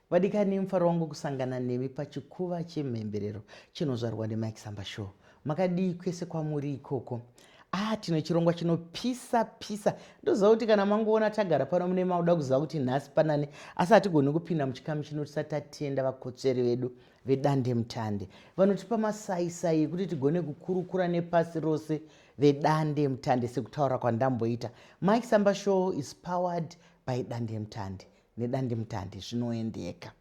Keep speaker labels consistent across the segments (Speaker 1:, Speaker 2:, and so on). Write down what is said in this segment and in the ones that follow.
Speaker 1: vadikani mufaro wangu kusangana nemi pachikuva chemhemberero chinozvarwa nemike samba show makadii kwese kwamuri ikoko ah tine chirongwa chinopisa pisa ndoziva kuti kana mangoona tagara pano mune mauda kuziva kuti nhasi panane asi hatigoni kupinda muchikamu chino tisati tatienda vakotsveri vedu vedande mutande vanotipa masaisai ekuti tigone kukurukura nepasi rose vedandemutande sekutaura kwandamboita mike samba show is powered by dandemutande nedandemutande zvinoendeka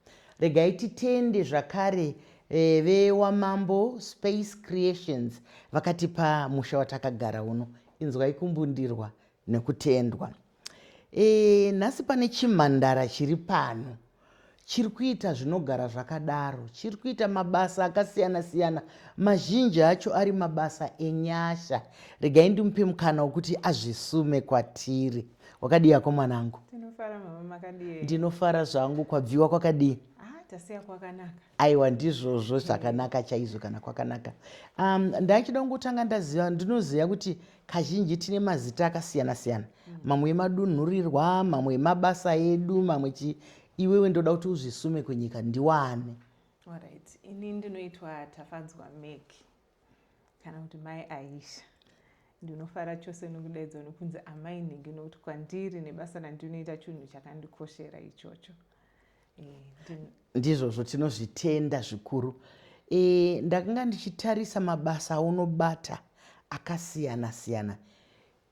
Speaker 1: regai titende zvakare e, vewamambo space creations vakatipa musha watakagara uno inzwai kumbundirwa nekutendwa E, nhasi pane chimhandara chiri pano chiri kuita zvinogara zvakadaro chiri kuita mabasa akasiyana siyana mazhinji acho ari mabasa enyasha regai ndimupe mukana wokuti azvisume kwatiri wakadiyako mwanangu
Speaker 2: ndinofara zvangu
Speaker 1: kwabviwa kwakadii ah, tasiya
Speaker 2: kwakanaka Aiwa ndizvozvo
Speaker 1: zvakanaka chaizvo kana kwakanaka. Um, ndaichida kungotanga ndaziva ndinoziva kuti kazhinji tine mazita akasiyana siyana mamwe emadunhurirwa mamwe emabasa edu mamwe chi iwewe ndoda kuti uzvisume kunyika ndiwane. Alright.
Speaker 2: Ini ndinoitwa Tafadzwa Meki. kana kuti mai aisha ndinofara chose nokudaidzwa nokunzi amai nhingi nokuti kwandiri nebasa randinoita chinhu chakandikoshera ichocho eh,
Speaker 1: ndizvozvo tinozvitenda zvikuru eh, ndakanga ndichitarisa mabasa aunobata akasiyana siyana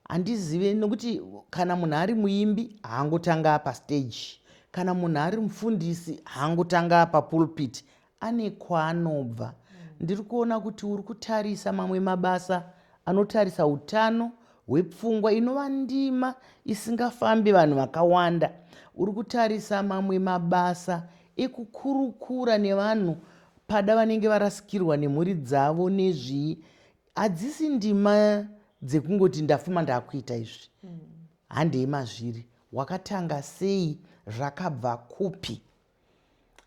Speaker 1: Handizive nokuti kana munhu ari muimbi haangotanga apa stage. Kana munhu ari mufundisi haangotanga apa pulpit. Ane kwaanobva. Ndiri kuona kuti uri kutarisa mamwe mabasa anotarisa utano hwepfungwa inova ndima isingafambi vanhu vakawanda. Uri kutarisa mamwe mabasa ekukurukura nevanhu pada vanenge varasikirwa nemhuri dzavo nezvii hadzisi ndima dzekungoti ndafuma ndakuita izvi mm. handei mazviri wakatanga sei zvakabva kupi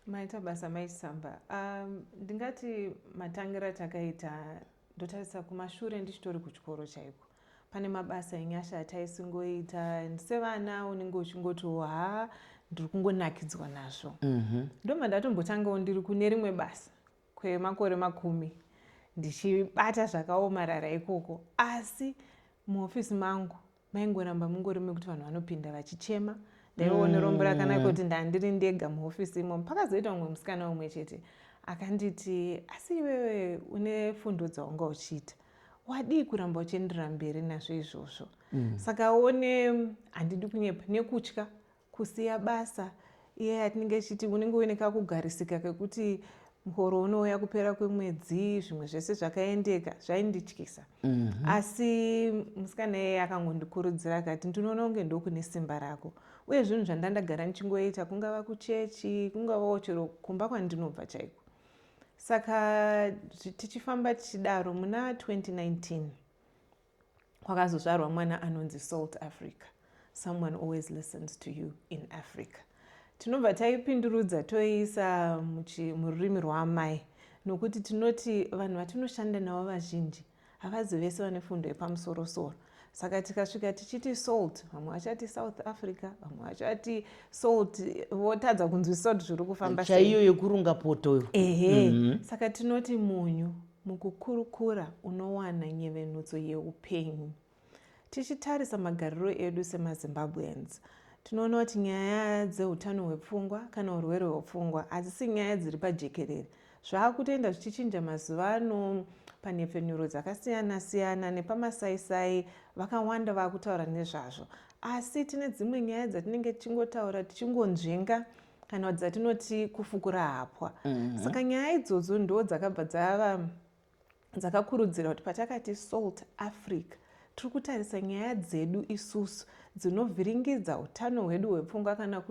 Speaker 2: maita basa maisamba um, ndingati matangira takaita ndotarisa kumashure ndichitori kuchikoro chaiko pane mabasa enyasha ataisingoita sevana unenge uchingotiwo haa ndiri kungonakidzwa nazvo mm -hmm. ndomandatombotangao ndiri kune rimwe basa kwemakore makumi ndichibata zvakaomarara ikoko asi muhofisi mangu maingoramba mungori mekuti vanhu vanopinda vachichema ndaione mm. rombo rakanaka kuti ndandiri ndega muhofisi imomo pakazoita umwe musikana umwe chete akanditi asi iwewe une fundo dzawanga uchiita wadii kuramba uchienderera mberi nazvo izvozvo mm. saka one handidi kunyepa nekutya kusiya basa iye yatinenge ichiti unenge uine kakugarisika kekuti muhoro unouya kupera kwemwedzi zvimwe zvese zvakaendeka zvaindityisa mm -hmm. asi musikana iyeye akangondikurudzira akati ndinoona kunge ndokune simba rako uye zvinhu zvandandagara ndichingoita kungava kuchechi kungavawo chero kumba kwandinobva chaiko saka tichifamba tichidaro muna 2019 kwakazozvarwa mwana anonzi salt africa someone always listens to you in africa tinobva taipindurudza toiisa mururimi rwaamai nokuti tinoti vanhu vatinoshanda navo vazhinji havazi vese vane fundo yepamusorosoro saka tikasvika tichiti salt vamwe vachati south africa vamwe vachati salt votadza kunzwisisa kuti zviri kufamba chaiyo yekurunga potoyo
Speaker 1: ehe mm -hmm. saka
Speaker 2: tinoti munyu Mukukurukura unowana nyevenutso yeupenyu. Tichitarisa magariro edu semaZimbabweans, tinoona kuti nyaya dzeutano hwepfungwa kana urwere hwepfungwa hadzisi nyaya dziri pajekerere. Zvaakutoenda zvichichinja mazuva ano panhepfenyuro dzakasiyana siyana nepamasaisai vakawanda vakutaura nezvazvo asi tine dzimwe nyaya dzatinenge tichingotaura tichingonzvenga kana dzatinoti kufukura hapwa mm -hmm. saka nyaya idzodzo ndo dzakabva dzava dzakakurudzira kuti patakati salt africa tiri kutarisa nyaya dzedu isusu dzinovhiringidza utano hwedu hwepfungwa kana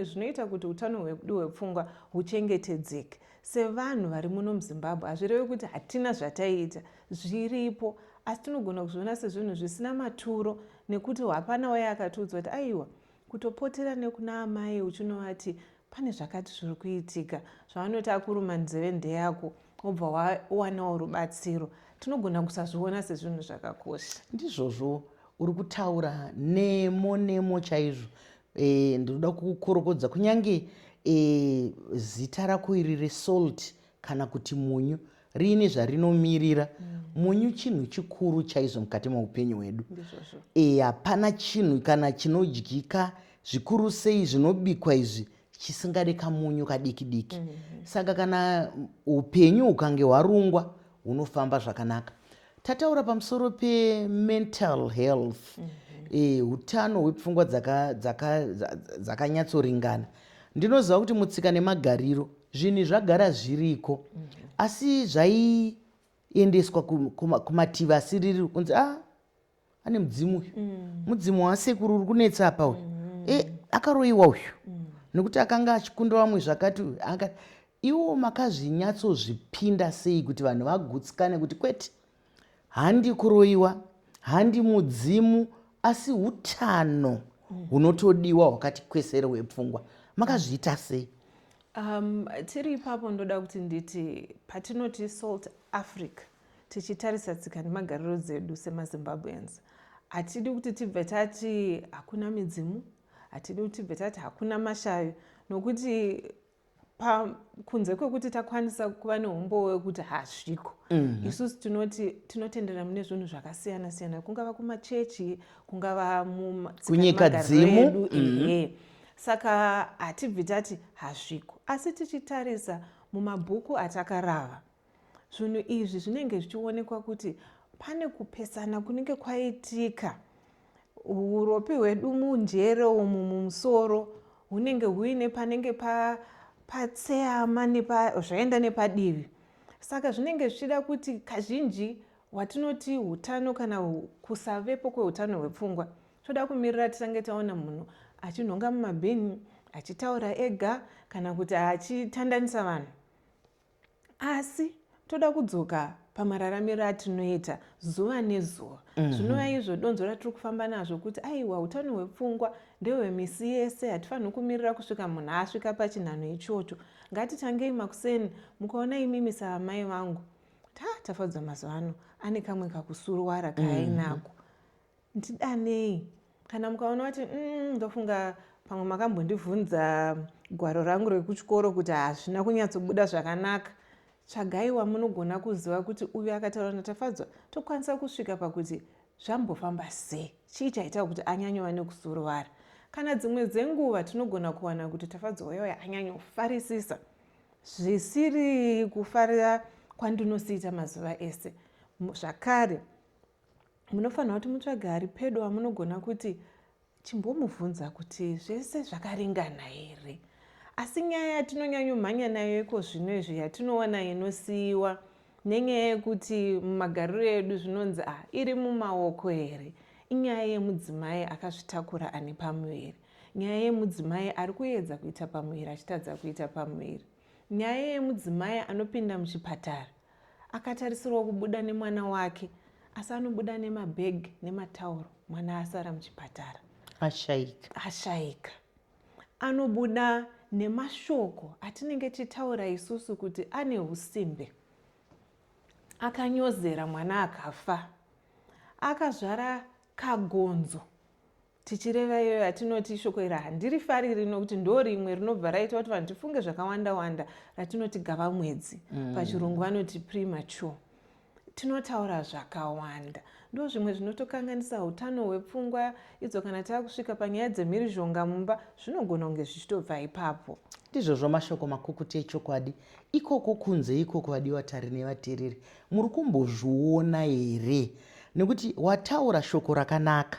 Speaker 2: zvinoita kuti utano hwedu hwepfungwa huchengetedzeke sevanhu vari muno muzimbabwe hazvirevi kuti hatina zvataiita zviripo asi tinogona kuzviona sezvinhu zvisina maturo nekuti hapana waye akatiudza kuti aiwa Kutopotera nekuna amai uchinovati pane zvakati zviri kuitika, zvavanoti akuruma nzeve ndeyako wobva wawanawo rubatsiro. Tinogona kusazviona sezvinhu zvakakosha. Ndizvozvo,
Speaker 1: uri kutaura nemo nemo chaizvo. E, ndinoda kukukorokodza kunyange e, zita rako iri reSalt kana kuti munyu riine zvarinomirira munyu chinhu chikuru chaizvo mukati meupenyu hwedu e hapana chinhu kana chinodyika zvikuru sei zvinobikwa izvi chisingade kamunyu kadiki diki mm-hmm. saka kana upenyu hukange hwarungwa hunofamba zvakanaka Tataura pamusoro pemental health eh, utano hwepfungwa dzaka- dzaka- dza- dzakanyatsoringana ndinoziva kuti mutsika nemagariro zvinhu zvagara zviriko asi zvaiendeswa ku- kuma- kumativi asiriri kunzi ah ane mudzimu uyu mm. mudzimu waasekuru uri kunetsa apa uyu mm. e akaroyiwa uyu mm. nekuti akanga achikunda vamwe zvakati uyu anga iwo makazvinyatsozvipinda sei kuti vanhu vagutsikane kuti kwete handi kuroyiwa handi mudzimu asi utano mm. hunotodiwa mm. hwakati kwesere hwepfungwa makazviita sei um,
Speaker 2: tiri ipapo ndoda kuti nditi patinoti salt africa Tichitarisa tsika nemagariro dzedu semaZimbabweans, hatidi kuti tibve tati hakuna midzimu, hatidi kuti tibve tati hakuna mashavi, nokuti kunze kwekuti takwanisa kuva neumbowo wekuti hazviko mhm. isusu tinoti tinotenderera mune zvinhu zvakasiyana siyana kungava kumachechi kungava munyika
Speaker 1: dzimu mhm.
Speaker 2: saka hatibvi tati hazviko asi tichitarisa mumabhuku atakarava Zvinhu izvi zvinenge zvichionekwa kuti pane kupesana kunenge kwaitika uropi hwedu munjere umu mumusoro hunenge huine panenge patseama zvaenda nepadivi saka zvinenge zvichida kuti kazhinji watinoti utano kana kusavepo kweutano hwepfungwa toda kumirira titange taona munhu achinhonga mumabhini achitaura ega kana kuti achitandanisa vanhu asi toda kudzoka pamararamiro atinoita zuva nezuva mhm. zvinova izvo donzvo ratiri kufamba nazvo kuti aiwa utano hwepfungwa ndehwemisi yese hatifaniri kumirira kusvika munhu asvika pachinhanho ichocho ngatitangei makuseni mukaona imimi saamai vangu ta tafadzwa mazuva ano ane kamwe kakusuruwara kaainako mhm. Ndidanei kana mukaona kuti mm, ndofunga pamwe makambondivhunza gwaro rangu rekuchikoro kuti hazvina kunyatsobuda zvakanaka tsvagai wamunogona kuziva kuti uyu akataura natafadzwa tokwanisa kusvika pakuti zvambofamba sei chii chaita kuti anyanyova nekusuruwara kana dzimwe dzenguva tinogona kuwana kuti tafadzwa uya uya anyanyofarisisa zvisiri kufarira kwandinosiita mazuva ese zvakare munofanira kuti mutsvage ari pedo amunogona kuti chimbomubvunza kuti zvese zvakaringana here asi nyaya yatinonyanyomhanya nayo iko zvino izvi yatinowana inosiyiwa nenyaya yekuti mumagariro edu zvinonzi a ah, iri mumaoko here inyaya yemudzimai akazvitakura ane pamuviri nyaya yemudzimai ari kuedza kuita pamuviri achitadza kuita pamuviri nyaya yemudzimai anopinda muchipatara Akatarisirwa kubuda nemwana wake asi anobuda nemabheg nematauro mwana asara muchipatara ashaika ashaika anobuda nemashoko atinenge tichitaura isusu kuti ane usimbe akanyozera mwana akafa akazvara kagonzo Tichireva iyoyo yatinoti ishoko iri handirifariri nokuti ndo rimwe rinobva raita kuti vanhu tifunge zvakawanda-wanda ratinoti gava mwedzi. Mm. Pachirungu vanoti premature. Tinotaura zvakawanda. Ndo zvimwe zvinotokanganisa utano hwepfungwa idzo kana tava kusvika panyaya dzemhirizhonga mumba zvinogona kunge zvichitobva ipapo. Ndizvozvo mashoko
Speaker 1: makukuti echokwadi. Ikoko kunze ikoko vadiwa tari nevatereri. Muri kumbozviona here? Nekuti wataura shoko rakanaka.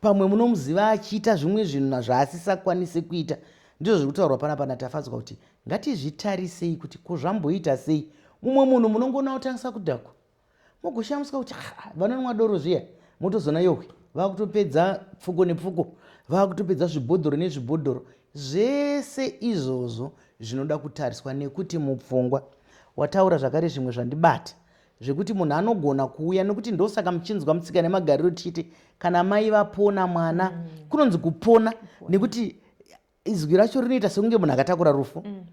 Speaker 1: Pamwe munomuziva achiita zvimwe zvinhu zvaasisakwanise kuita. Ndizvo zviri kutaurwa panapa naTafadzwa kuti ngatizvitarisei kuti ko zvamboita sei mumwe munhu munongoona otangisa kudhakwa mogoshamiswa kuti ah, vanonwa doro zviya motozoona yohwe vakutopedza pfuko nepfuko vakutopedza zvibhodhoro nezvibhodhoro zvese izvozvo zvinoda kutariswa nekuti mupfungwa wataura zvakare zvimwe zvandibata zvekuti munhu anogona kuuya nekuti ndosaka muchinzwa mutsika nemagariro tichiti kana mai vapona mwana mm. kunonzi kupona nekuti izwi racho rinoita sekunge munhu akatakura rufu mm.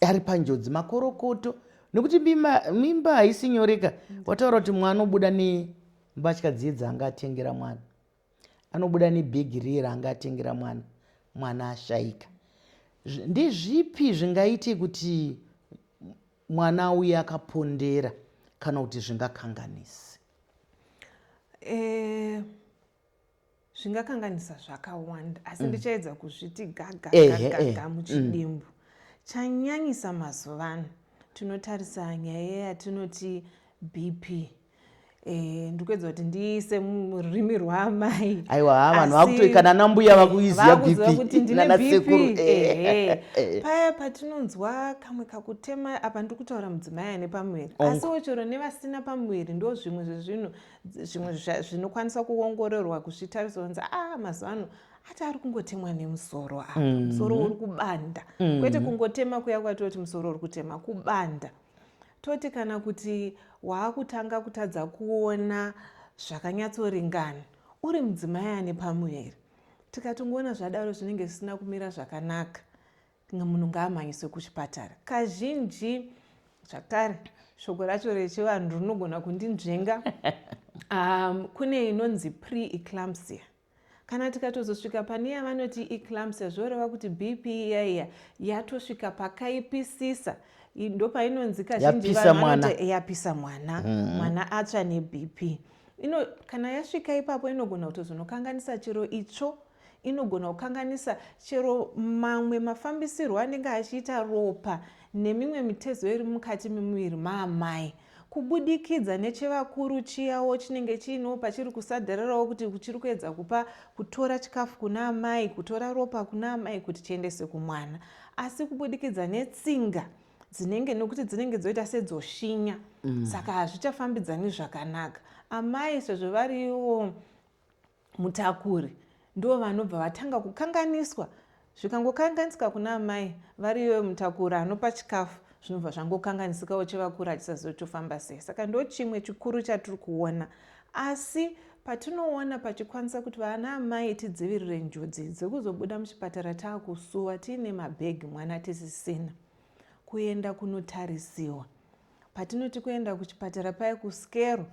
Speaker 1: ari panjodzi makorokoto nekuti mimba haisi nyoreka mm. wataura kuti mwana obuda nembatya dziye dzaanga atengera mwana anobuda nebhegi riye raanga atengera mwana mwana ashaika ndezvipi zvingaite kuti mwana auye akapondera kana kuti zvingakanganise e,
Speaker 2: zvingakanganisa zvakawanda asi mm. ndichaedza mm. kuzviti gagagagaga mm. muchidimbu mm. chanyanyisa mazuvano tinotarisa nyaya yatinoti bp Eh, ndikuedza kuti ndiise mururimi rwaamai aiwa ha vanhu
Speaker 1: vakutoikana nambuya vakuiziva bpnanasekuru eh,
Speaker 2: eh, paya patinonzwa kamwe kakutema apa ndiri kutaura mudzimai ane pamuviri asi wochero nevasina pamuviri ndo zvimwe zvezvinhu zvimwe zvinokwanisa kuongororwa kuzvitarisa kunzi a ah, mazuva ano ati ari kungotemwa nemusoro apa mm-hmm. musoro uri kubanda kwete mm-hmm. kungotema kuya kwatoti musoro uri kutema kubanda Toti kana kuti waakutanga kutadza kuona zvakanyatsoringana uri mudzimai ane pamuviri. Tikatongoona zvadaro zvinenge zvisina kumira zvakanaka, munhu ngaamhanyiswe kuchipatara. Kazhinji zvakare shoko racho rechivanhu rinogona kundinzvenga um, kune inonzi pre-eclampsia Kana tikatozosvika pane yavanoti eclampsia zvoreva kuti BP iya iya yatosvika pakaipisisa ndopainonzi kazhinji vanhu vanoti yapisa mwana mm-hmm. mwana atsva neBP ino kana yasvika ipapo inogona kutozonokanganisa chero itsvo inogona kukanganisa chero mamwe mafambisirwo anenge achiita ropa nemimwe mitezo iri mukati memuviri maamai Kubudikidza nechevakuru chiyawo chinenge chiinewo pachiri kusadarirawo kuti chiri kuedza kupa kutora chikafu kuna amai, kutora ropa kuna amai kuti chiendeswe kumwana. Asi kubudikidza netsinga dzinenge nokuti dzinenge dzoita sedzoshinya mm. saka hazvichafambidzani zvakanaka amai sezvo variwo mutakuri ndivo vanobva vatanga kukanganiswa zvikangokanganisika kuna amai vari iyoyo mutakuri anopa chikafu zvinobva zvangokanganisikawo chevakuru hachisazotofamba sei saka ndo chimwe chikuru chatiri kuona asi patinoona pachikwanisa kuti vana amai tidzivirire njodzi dzekuzobuda muchipatara taakusuwa tiine mabhegi mwana tisisina kuenda kunotarisiwa patinoti kuenda kuchipatara paye kuskero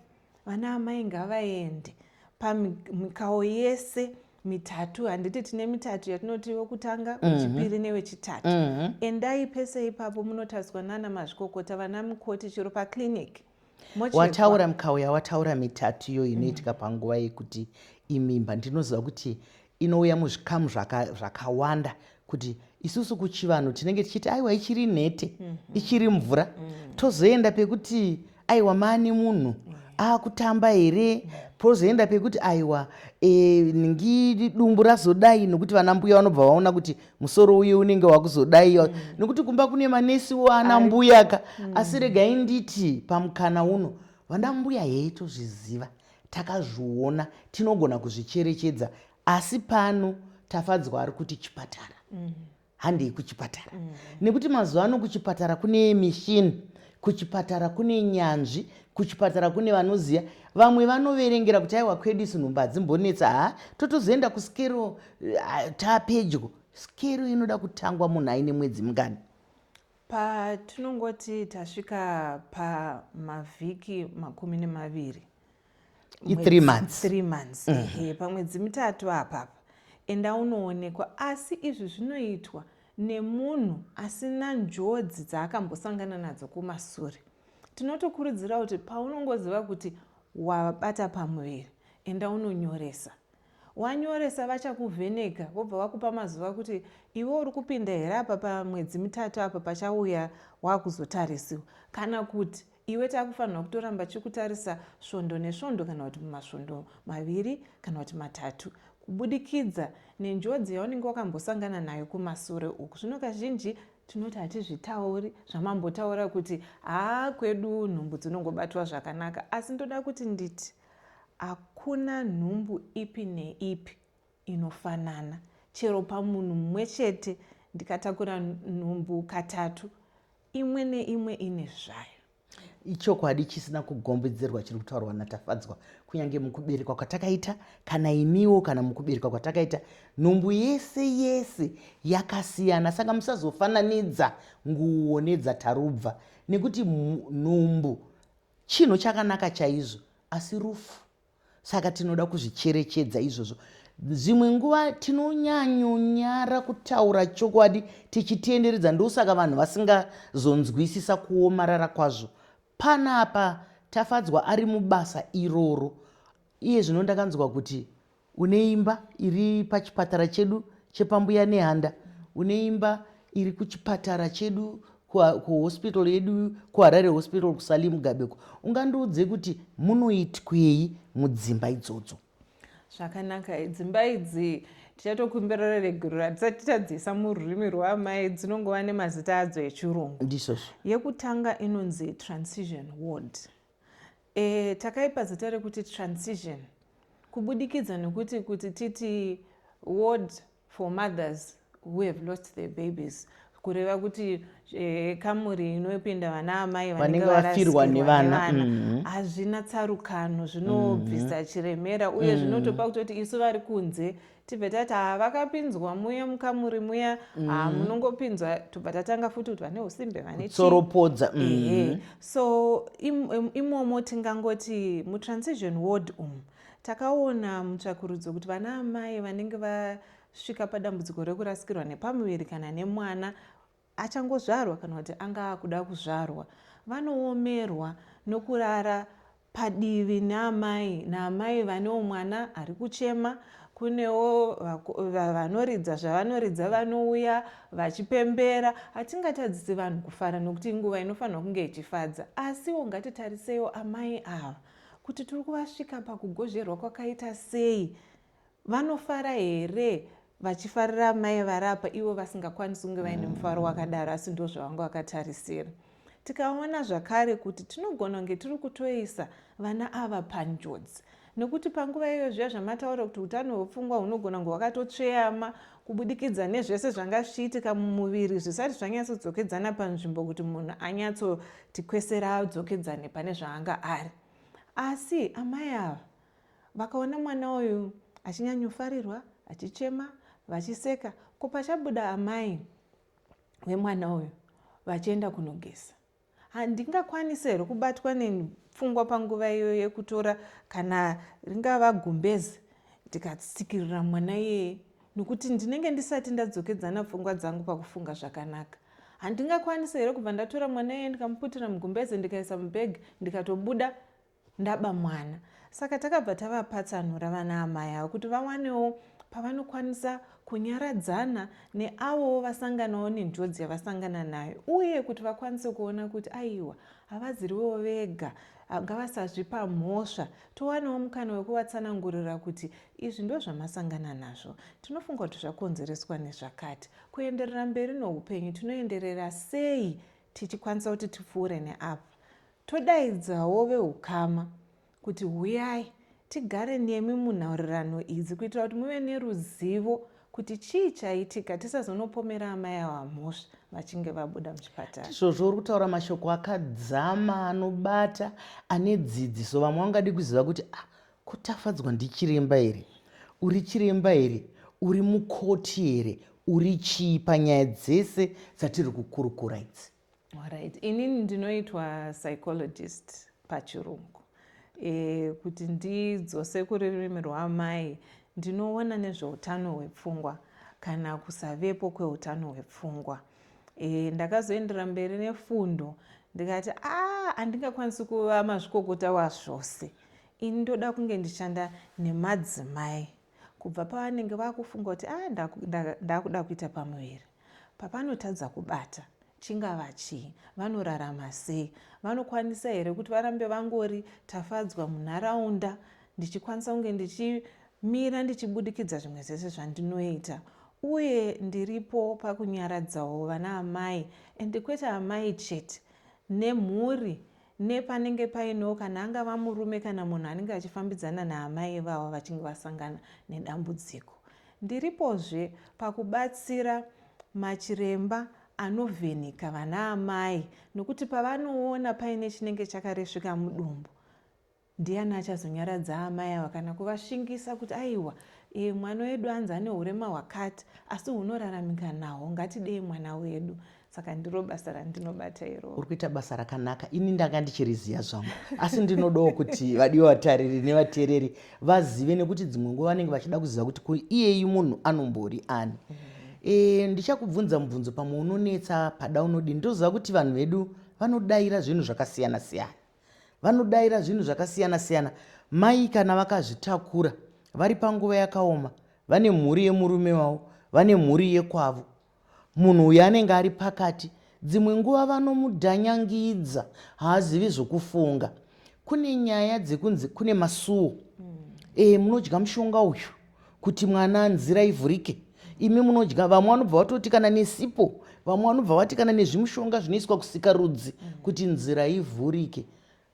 Speaker 2: vana amai ngavaende pamikawo yese mitatu handiti tine mitatu yatinoti wekutanga mhm. wechipiri newechitatu mhm. endai pese ipapo munotariswa nana mazvikokota vana mukoti chero paclinic wataura
Speaker 1: mikawo yawataura mitatu iyo inoitika mhm. panguva yekuti imimba ndinoziva kuti Inouya muzvikamu zvaka, zvakawanda kuti isusu kuchivanhu tinenge tichiti aiwa ichiri nhete mm -hmm. ichiri mvura mm -hmm. tozoenda pekuti aiwa maani munhu mm -hmm. akutamba here mm -hmm. pozoenda pekuti aiwa e, eh, ningi dumbu razodai nokuti vana mbuya vanobva vaona kuti musoro uye unenge wakuzodai mm -hmm. nokuti kumba kune manesi waana mbuyaka mm -hmm. asi regai nditi pamukana uno vana mbuya heitozviziva takazviona tinogona kuzvicherechedza asi pano tafadzwa ari kuti chipatara mm. handei kuchipatara mm. nekuti mazuva ano kuchipatara kune mishini kuchipatara kune nyanzvi kuchipatara kune vanoziva vamwe vanoverengera kuti aiwa kwedu isu nhumba hadzimbonetsa ha totozoenda kuskero tapedyo skero inoda kutangwa munhu aine mwedzi mungani Patinongoti
Speaker 2: tasvika pamavhiki makumi nemaviri
Speaker 1: three months, three months. Mm
Speaker 2: -hmm. pamwedzi mitatu apapa enda unoonekwa asi izvi zvinoitwa nemunhu asina njodzi dzaakambosangana nadzo kumasure tinotokurudzira kuti paunongoziva kuti wabata pamuviri enda unonyoresa Wanyoresa vachakuvheneka vobva vakupa mazuva kuti iwe uri kupinda here apa pamwedzi mitatu apa pachauya wakuzotarisiwa kana kuti iwe takufanirwa kutoramba chikutarisa svondo nesvondo kana kuti mumasvondo maviri kana kuti matatu kubudikidza nenjodzi yaunenge wakambosangana nayo kumasure uku zvino kazhinji tinoti hatizvitauri zvamambotaura kuti haa kwedu nhumbu dzinongobatwa zvakanaka asi ndoda kuti nditi Hakuna nhumbu ipi neipi inofanana. Chero pamunhu mumwe chete ndikatakura nhumbu katatu, imwe neimwe ine zvayo. Ichokwadi
Speaker 1: chisina kugombedzerwa chiri kutaurwa naTafadzwa. Kunyange mukuberekwa kwatakaita, kana iniwo kana mukuberekwa kwatakaita, nhumbu yese yese yakasiyana. Saka musazofananidza nguwo nedzaTarubva nekuti nhumbu Chinhu chakanaka chaizvo, asi rufu. Saka tinoda kuzvicherechedza izvozvo. Dzimwe nguva tinonyanyonyara kutaura chokwadi tichitenderedza, ndosaka vanhu vasingazonzwisisa kuomarara kwazvo. Panapa Tafadzwa ari mubasa iroro. Iye zvino ndakanzwa kuti Une imba iri pachipatara chedu chepaMbuya Nehanda. Une imba iri kuchipatara chedu kuhospital yedu kuharare hospital kusali mugabeko ungandiudze kuti munoitwei mudzimba idzodzo zvakanaka
Speaker 2: dzimba idzi tichatokumbirira reguriro hatisati tadziisa mururimi rwaamai dzinongova nemazita adzo echirungu ndisozvo yekutanga inonzi transition ward E, takaipa zita rekuti transition kubudikidza nokuti kuti titi ward for mothers who have lost their babies kureva kuti e, kamuri inopinda vana amai vanenge vafirwa nevana
Speaker 1: mm-hmm. hazvina mm -hmm.
Speaker 2: tsarukano zvinobvisa mm -hmm. chiremera uye mm -hmm. zvinotopa kutoti isu vari kunze tibve tati haa vakapinzwa muya mukamuri muya haa mm. munongopinzwa tobva tatanga futi kuti vane usimbe vanetsoropodza mm.
Speaker 1: so
Speaker 2: im, imomo tingangoti mutransition ward umu takaona mutsvakurudzo kuti vana amai vanenge vasvika padambudziko rekurasikirwa nepamuviri kana nemwana achangozvarwa kana kuti anga akuda kuzvarwa vanoomerwa nokurara padivi naamai naamai vanewo mwana ari kuchema kunewo vanoridza zvavanoridza vanouya vachipembera hatingatadzisi vanhu kufara nokuti inguva inofanirwa kunge ichifadza asiwo ngatitariseiwo amai ava kuti tiri kuvasvika pakugozherwa kwakaita sei Vanofara here vachifarira amai vari apa ivo vasingakwanisi kunge vaine mufaro wakadaro asi ndo zvavanga vakatarisira tikaona zvakare kuti tinogona kunge tiri kutoisa vana ava panjodzi nekuti panguva iyoyo zviya zvamataura kuti utano hwepfungwa hunogona kunge hwakatotsveyama kubudikidza nezvese zvanga zvichiitika mumuviri zvisati zvanyatsodzokedzana panzvimbo kuti munhu anyatsoti kwesera adzokedzane pane zvaanga ari asi amai ava Vakaona mwana uyu achinyanyofarirwa, achichema, vachiseka, ko pachabuda amai vemwana uyu vachienda kunogeza. Handingakwanise here kubatwa nepfungwa panguva iyoyo yekutora kana ringava gumbezi ndikatsikirira mwana iyeye nokuti ndinenge ndisati ndadzokedzana pfungwa dzangu pakufunga zvakanaka handingakwanise here kubva ndatora mwana iyeye ndikamuputira mugumbeze ndikaisa mubhegi ndikatobuda Ndaba mwana saka takabva tavapatsanura vana amai ava kuti vawanewo pavanokwanisa kunyaradzana neavowo vasanganawo nenjodzi yavasangana nayo uye kuti vakwanise kuona kuti aiwa havaziriwo vega ngavasazvipa mhosva towanawo mukana wekuvatsanangurira kuti izvi ndo zvamasangana nazvo tinofunga kuti zvakonzereswa nezvakati kuenderera mberi noupenyu tinoenderera sei tichikwanisa kuti tipfuure neapa Todaidzawo vehukama kuti huyai tigare nemi munhaurirano idzi kuitira kuti muve neruzivo kuti chii chaitika tisazonopomera amai ava mhosva vachinge vabuda muchipatara. Ndizvozvo uri kutaura mashoko
Speaker 1: akadzama anobata ane dzidziso. Vamwe vangadi kuziva kuti ah, ko Tafadzwa ndichiremba here? Uri chiremba here? Uri mukoti here? Uri chii panyaya dzese dzatiri kukurukura idzi? Alright, inini
Speaker 2: ndinoitwa psychologist pachirungu e, kuti ndidzose kururimi rwamai ndinoona nezveutano hwepfungwa kana kusavepo kweutano hwepfungwa e, ndakazoendera mberi nefundo ndikati a ah, andingakwanisi kuva mazvikokota wazvose ini ndoda kunge ndichishanda nemadzimai Kubva pavanenge vakufunga kuti ah ndakuda kuita pamuviri papanotadza kubata chingava chii vanorarama sei vanokwanisa here kuti varambe vangori tafadzwa munharaunda ndichikwanisa kunge ndichimira ndichibudikidza zvimwe zvese zvandinoita uye ndiripo pakunyaradzawo vana amai and kwete amai chete nemhuri nepanenge painewo kana angava murume kana munhu anenge achifambidzana naamai ivava vachinge vasangana nedambudziko ndiripozve pakubatsira machiremba anovheneka vana amai nokuti pavanoona paine chinenge chakaresvika mudumbu Ndiani achazonyaradza amai ava kana kuvashingisa kuti aiwa ee mwana wedu anzi ane hurema hwakati asi hunoraramika nahwo ngatidei mwana wedu saka ndiro basa randinobata iroro. Uri kuita basa rakanaka
Speaker 1: ini ndanga ndichiriziva zvangu asi ndinodawo kuti vadiwe vatariri nevateereri vazive nekuti dzimwe nguva vanenge vachida kuziva kuti kuiyeyi munhu anombori ani mm -hmm. E, ndichakubvunza mubvunzo pamwe unonetsa pada unodii ndoziva kuti vanhu vedu vanodaira zvinhu zvakasiyana siyana Vanodaira zvinhu zvakasiyana-siyana. Mai kana vakazvitakura vari panguva yakaoma, vane mhuri yemurume wavo, vane mhuri yekwavo. Munhu uyu anenge ari pakati, dzimwe nguva vanomudhanyangidza, haazivi zvokufunga. Kune nyaya dzekunzi kune masuwo. Mm. E, munodya mushonga uyu. kuti mwana nzira ivhurike imi munodya vamwe vanobva vatoti kana nesipo vamwe vanobva vati kana nezvimushonga zvinoiswa kusika rudzi kuti nzira ivhurike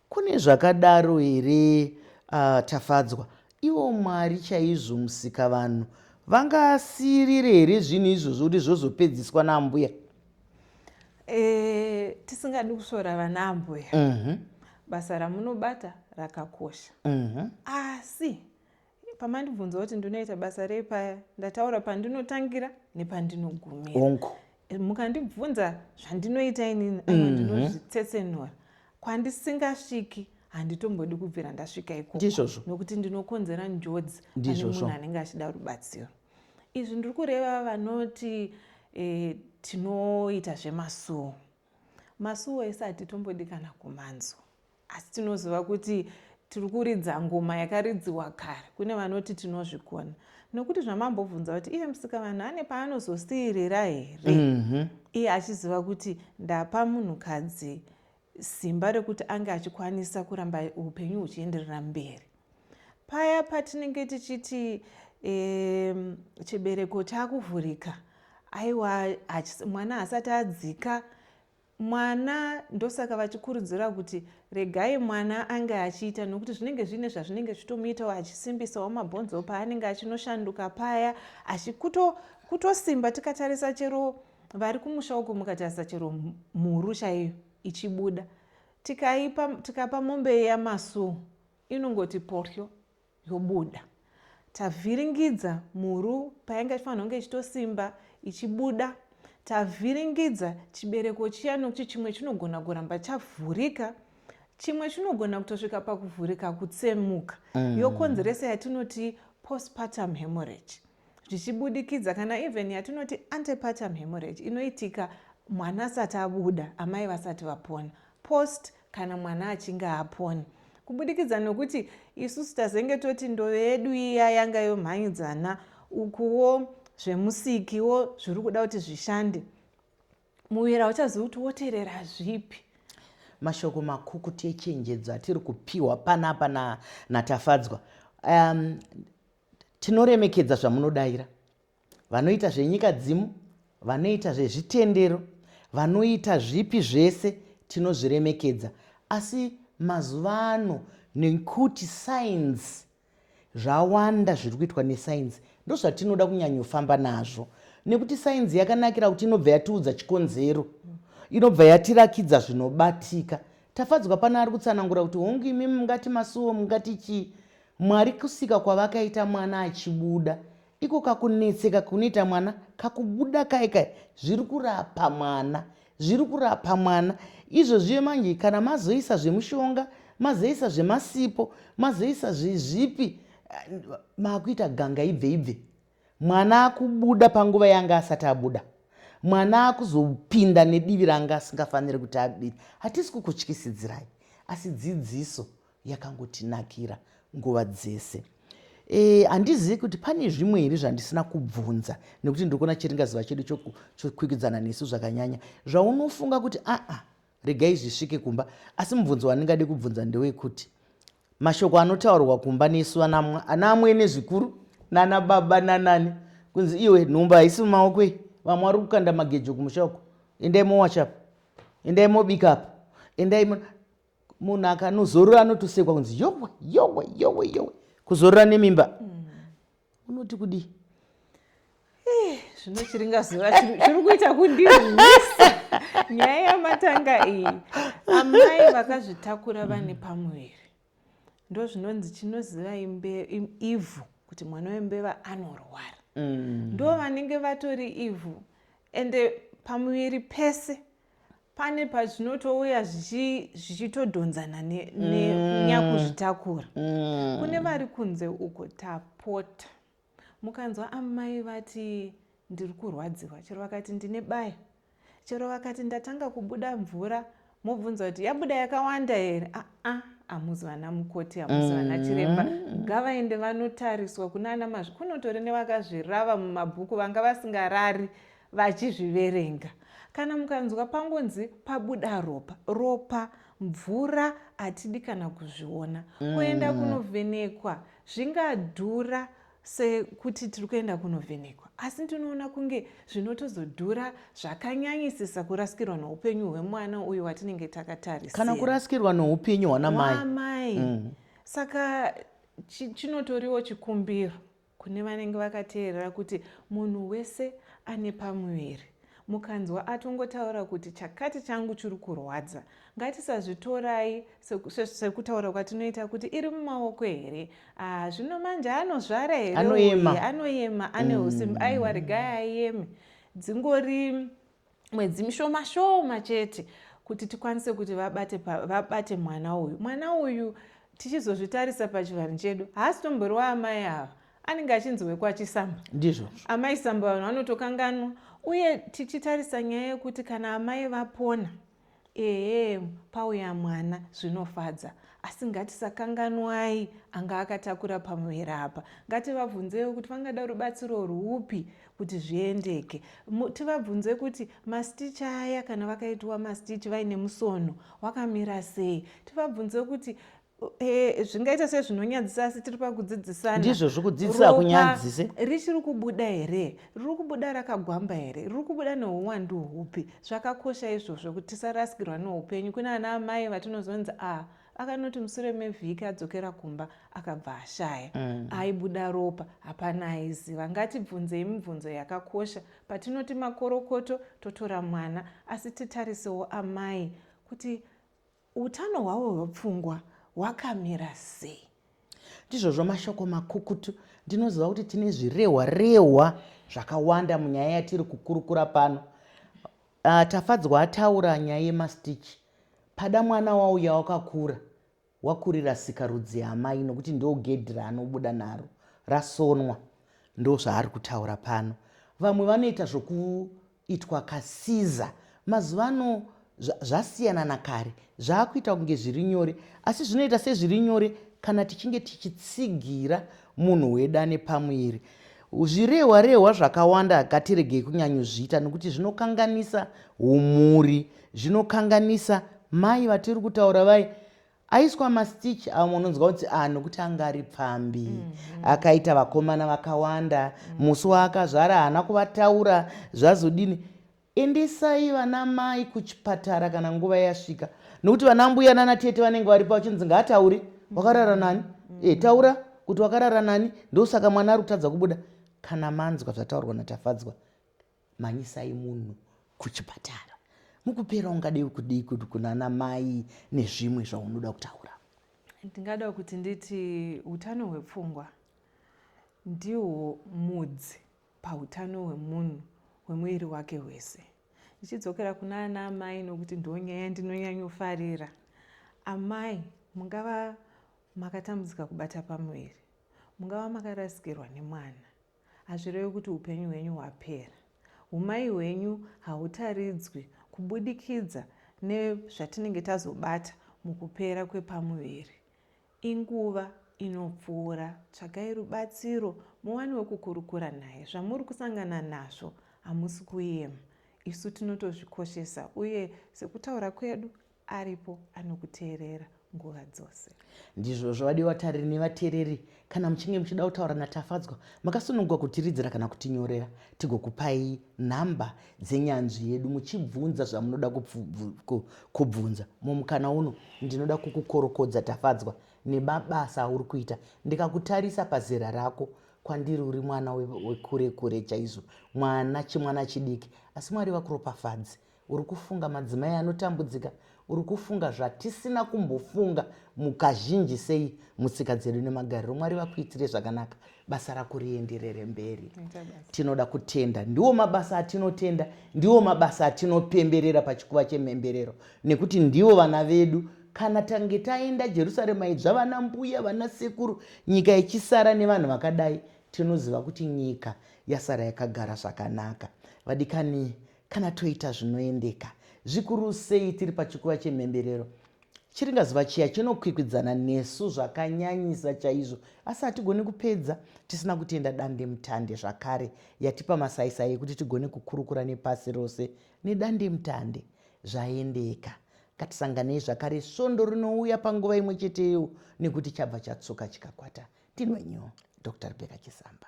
Speaker 1: kune zvakadaro here uh, tafadzwa ivo mwari chaizvo musika vanhu vangasirire here zvinhu izvozvo kuti zvozopedziswa naambuya e,
Speaker 2: tisingadi kusvora vana ambuya uh mhm. -huh. basa ramunobata rakakosha uh mhm. -huh. asi pamandibvunza kuti ndinoita basa rei paya ndataura pandinotangira nepandinogumira eh, mukandibvunza zvandinoita inini mm -hmm. ndinozvitsetsenura kwandisingasviki handitombodi kubvira ndasvika ikokondizvozvo nokuti ndinokonzera njodzi ane munhu anenge achida rubatsiro izvi ndiri kureva vanoti e, tinoita zvemasuwo masuwo ese hatitombodi kana kumanzwa Asi tinoziva kuti tiri kuridza ngoma yakaridziwa kare, kune vanoti tinozvigona. Nokuti zvamambobvunza kuti iye musikavanhu ane paanozosiirira here? Mhm. Iye achiziva kuti ndapa munhukadzi simba rekuti ange achikwanisa kuramba upenyu huchienderera mberi. Paya patinenge tichiti em, chibereko chakuvhurika, aiwa hachis- mwana haasati adzika, mwana ndosaka vachikurudzira kuti regai mwana ange achiita nokuti zvinenge zviine zvazvinenge zvitomuitawo achisimbisawo mabhonzo paanenge achinoshanduka paya achikutosimba tikatarisa chero vari kumusha uko mukatarisa chero mhuru chaiyo ichibuda tikaipa tikapa mombe yamasuu inongoti poryo yobuda tavhiringidza mhuru payanga ichifanirwa kunge ichitosimba ichibuda tavhiringidza chibereko chiya nokuti chimwe chinogona kuramba chavhurika chimwe chinogona kutosvika pakuvhurika kutsemuka mm. yokonzeresa yatinoti postpartum hemorrhage zvichibudikidza kana even yatinoti antepartum hemorrhage inoitika mwana asati abuda amai vasati vapona post kana mwana achinge apona kubudikidza nokuti isusu tazenge toti ndove yedu iya yanga yomhanyidzana ukuwo zvemusikiwo zviri kuda kuti zvishande muviri hauchazivi kuti woterera zvipi mashoko
Speaker 1: makukuti echenjedzo atiri kupiwa panapa natafadzwa na um, Tinoremekedza zvamunodaira vanoita zvenyika dzimu, vanoita zvezvitendero, vanoita zvipi zvese tinozviremekedza asi mazuva ano nekuti sainzi zvawanda zviri kuitwa nesainzi ndozvatinoda kunyanyofamba nazvo nekuti sainzi yakanakira kuti inobva yatiudza chikonzero inobva yatirakidza zvinobatika tafadzwa pana ari kutsanangura kuti hongu imi mungati masuwo mungati chii Mwari kusika kwavakaita mwana achibuda iko kakunetseka kunoita mwana kakubuda kai kai zviri kurapa mwana zviri kurapa mwana izvo zviye manje kana mazoisa zvemushonga mazoisa zvemasipo mazoisa zvipi eh, makuita ganga ibve ibve mwana akubuda panguva yanga asati abuda mwana akuzopinda nedivi ranga asingafaniri kuti abiri hatisi kukutyisidzirai asi dzidziso yakangotinakira nguva dzese eh, handizivi e, kuti pane zvimwe here zvandisina kubvunza nekuti ndiri kuona chiringaziva chedu chokwikwidzana nesu zvakanyanya zvaunofunga kuti aa ah, ah, regai zvisvike kumba asi mubvunzo wandingade kubvunza ndewekuti mashoko anotaurwa kumba nesu ana amwene zvikuru nana baba nanani kunzi iwe nhumba haisi mumaoko iyi vamwe vari kukanda magejo kumusha uko endai mowachapa endai mobikapa endai munhu akanozorora anotosekwa kunzi yowe yowe yowe yowe kuzorora nemimba mm. unoti
Speaker 2: kudii eh, zvinochiringazuva
Speaker 1: zviri kuita
Speaker 2: kundirwisa nyaya yamatanga iyi amai vakazvitakura vane pamuviri ndo zvinonzi chinoziva ivhu kuti mwana wembeva anorwara mm. ndo vanenge vatori ivhu ende pamuviri pese pane pazvinotouya zvichitodhonzana nenyakuzvitakura mm. mm. kune vari kunze uko tapota mukanzwa amai vati ndiri kurwadziwa chero vakati ndine baya chero vakati ndatanga kubuda mvura mobvunza kuti yabuda yakawanda here aa ah, ah, hamuzi vana mukoti hamuzi vana mm. chiremba ngavaende vanotariswa kuna ana mazvi kunotori nevakazvirava mumabhuku vanga vasingarari vachizviverenga. Kana mukanzwa pangonzi pabuda ropa, ropa, mvura hatidi kana kuzviona. Mm. Kuenda kunovhenekwa zvingadhura sekuti tiri kuenda kunovhenekwa asi ndinoona kunge zvinotozodhura zvakanyanyisisa kurasikirwa noupenyu hwemwana uyo watinenge takatarisa kana kurasikirwa
Speaker 1: noupenyu hwanamai mm.
Speaker 2: saka chinotoriwo chikumbiro Kune vanenge vakateerera kuti munhu wese ane pamuviri. Mukanzwa atongotaura kuti chakati changu chiri kurwadza, ngatisazvitorai sekutaura kwatinoita kuti iri mumaoko here, ah, zvino manje anozvara here, anoyema, anoyema ane usimbi, mm. aiwa regai ayeme, dzingori mwedzi mishoma shoma chete kuti tikwanise kuti vabate, vabate mwana uyu mwana uyu tichizozvitarisa pachivanhu chedu haasi tombori waamai ava anenge achinzi wekwachisamba ndizvo amai
Speaker 1: samba vanhu
Speaker 2: vanotokanganwa uye tichitarisa nyaya yekuti kana amai vapona Ehem pauya mwana zvinofadza asi ngatisakanganwai anga akatakura pamuviri apa ngativabvunzewo kuti vangada rubatsiro rwupi kuti zviendeke tivabvunze kuti mastich aya kana vakaitiwa mastich vaine musono wakamira sei tivabvunze kuti Eh, zvingaita se zvinonyadzisa asi tiri pakudzidzisana ndizvo zvikudzidzisa
Speaker 1: akunyadzise richiri kubuda
Speaker 2: here riri kubuda rakagwamba here riri kubuda neuwandu hupi zvakakosha izvozvo kuti tisarasikirwa neupenyu kune ana amai vatinozonzi a ah, akanoti musure mevhiki adzokera kumba akabva ashaya mm. aibuda ropa hapana aiziva ngatibvunzei mibvunzo yakakosha patinoti makorokoto totora mwana asi titarisewo amai kuti Utano hwavo hwepfungwa hwakamira sei? Ndizvozvo
Speaker 1: mashoko makukutu. Ndinoziva kuti tine zvirehwa rehwa zvakawanda munyaya yatiri kukurukura pano. Uh, Tafadzwa ataura nyaya yemastitch. Pada mwana wauya wakakura wakurira sika rudzi yamai nokuti ndo gedhi raanobuda naro rasonwa ndo zvaari kutaura pano vamwe vanoita zvoku itwa ka Caesar mazuvano zvasiyana nakare zvakuita kunge zviri nyore asi zvinoita sezviri nyore kana tichinge tichitsigira munhu weda nepamuviri zvirehwa rehwa zvakawanda ngatiregei kunyanyozviita nekuti zvinokanganisa umhuri zvinokanganisa mai vatiri kutaura vai Aiswa mastitch awo munonzwa kuti ah nokuti anga ari pfambi. Mm -hmm. Akaita vakomana vakawanda. Mm -hmm. Musi waakazvara haana kuvataura zvazodini. Endesai vana mai kuchipatara kana nguva yasvika. Nokuti vana mbuya nana tete vanenge varipo vachinzi ngaataure. Mm -hmm. Wakarara nani? Mm -hmm. E, taura kuti wakarara nani ndosaka mwana ari kutadza kubuda. Kana manzwa zvataurwa natafadzwa. Mhanyisai munhu kuchipatara. Mukupera ungadei kudii kuti kunana mai nezvimwe zvaunoda kutaura? Ndingada
Speaker 2: kuti nditi utano hwepfungwa ndihwo mudzi pautano hwemunhu hwemuviri wake hwese. Ndichidzokera kuna ana amai nokuti ndo nyaya ndinonyanyofarira. Amai mungava makatambudzika kubata pamuviri, mungava makarasikirwa nemwana. Hazvirevi kuti upenyu hwenyu hwapera. Umai hwenyu hautaridzwi kubudikidza nezvatinenge tazobata mukupera kwepamuviri. Inguva inopfuura. Tsvagai rubatsiro muwani wekukurukura naye. Zvamuri kusangana nazvo hamusi kuema. Isu tinotozvikoshesa uye sekutaura kwedu aripo anokuteerera nguva dzose ndizvozvo vadiwa
Speaker 1: vatariri nevateereri kana muchinge muchida kutaura natafadzwa makasununguka kutiridzira kana kutinyorera tigokupai nhamba dzenyanzvi yedu muchibvunza zvamunoda kubvunza mumukana uno ndinoda kukukorokodza tafadzwa nemabasa auri kuita ndikakutarisa pazera rako kwandiri uri mwana wekure kure chaizvo mwana chimwana chidiki asi mwari vakuropafadzi we Uri kufunga madzimai anotambudzika, uri kufunga zvatisina kumbofunga mukazhinji sei mutsika dzedu nemagariro. Mwari vakuitire zvakanaka, basa rako rienderere mberi. Tinoda kutenda, ndiwo mabasa atinotenda, ndiwo mabasa atinopemberera pachikuva chemhemberero, nekuti ndiwo vana vedu kana tange taenda jerusarema idzva vana mbuya vana sekuru nyika ichisara nevanhu vakadai tinoziva kuti nyika yasara yakagara zvakanaka vadikani Kana toita zvinoendeka, zvikuru sei tiri pachikuva chemhemberero, chiringazuva chiya chinokwikwidzana nesu zvakanyanyisa chaizvo, asi hatigoni kupedza tisina kutenda dandemutande zvakare yatipa masaisai ekuti tigone kukurukura nepasi rose nedandemutande. Zvaendeka. Ngatisanganei zvakare svondo rinouya panguva imwe cheteyo nekuti chabva chatsuka chikakwata. Ndinwenyu, Doctor Rebecca Chisamba.